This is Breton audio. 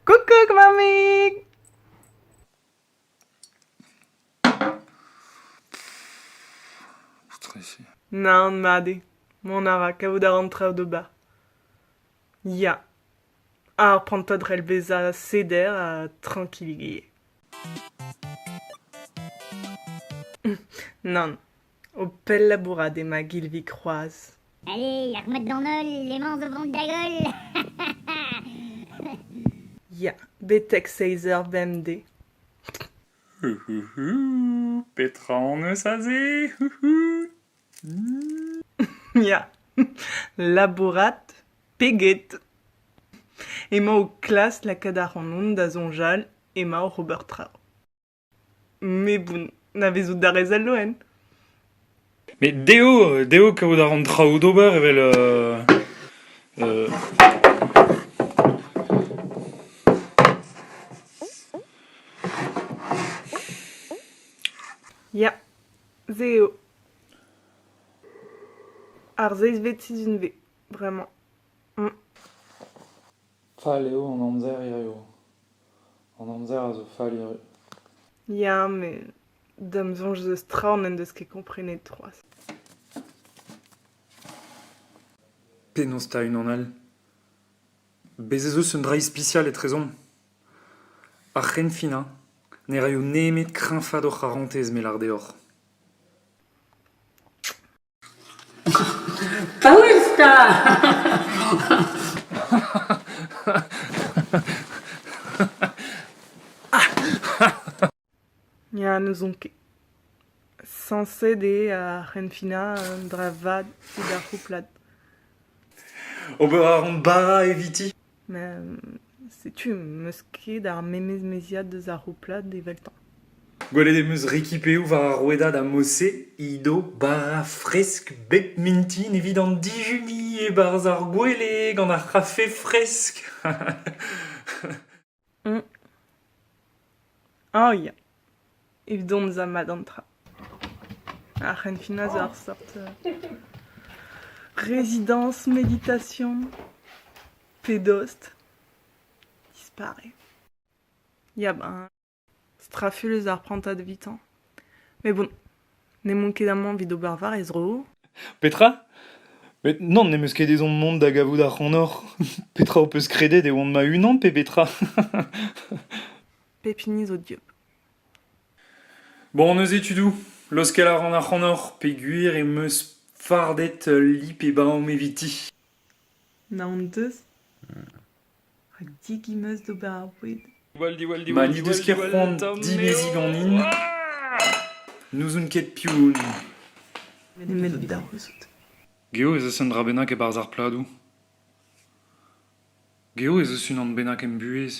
Kuckuck, Mami! Stressé. Naon, Madi. Mon ara, kavout a ran traoù d'ober. Ya. Ar prantad rell bezañ seder ha trankilligee. Nann. O pell labourat emañ Gilvig c'hoazh. Hei, ar mod d'an holl emañ o vont da goll. Ya, betek seizh eur bemdez. Petra hon eus aze? Ya, labourat peget. Emañ o klask lakaat ac'hanon da soñjal emañ oc'h ober traoù. Mais bon, navezout a rez al loen. Mais dezho, dezho kaout a ran traoù d'ober evel... euh, euh, Ya, se eo. Ar seizhvet sizhun V, bremañ. Fall eo an amzer hiziv. An amzer a zo fall hirie. Ya, met da'm soñj 'z eus tra n'en deus ket komprenet c'hoazh. Penaos 'ta unan all? Bez' ez eus un dra ispisial etrezomp. Ar c'henfin hein, ne raio nemet kreñfaat hor c'harantez, me 'lar deoc'h. Paouez 'ta! Ya, n'ouzon ket. Sañset eo ar c'henfinañ un dra vat evit ar c'houplad. Ober a ran bara eviti? Setu em eus ket ar memes meziad eus ar c'houplad eveltañ. Gwelet em eus Rikipeou war ar rouedad ha Mose, Ido, bara fresk bep mintin evit an dijuni e-barzh ar gwele gant ar c'hafe fresk. Ah ya, evit dont da mat an tra. Ar c'henfinañ zo ur seurt rezidañs meditation pe dost dispare. Ya ben, straful eus ar prantad evitañ. Mais bon. N'emaon ket amañ evit ober war e zro. Petra Met non, n'em eus ket ezhomm mont da gavout ac'hanoc'h. petra ho peus kredet e oan ma-unan pe betra Pep hini zo dieub. Bon, on eus étudoù. Laoskel a ran ac'hanoc'h peogwir em eus fardet ul lip e baom eviti. Naon deus Rak degas em eus d'ober ar boued. Ma n'he deus ket c'hoant dimeziñ ganin, n'ouzon ket piv on. Nemet da c'houzout. Geo ez eus un dra bennak e-barzh ar pladoù. Geo ez eus unan bennak em buhez.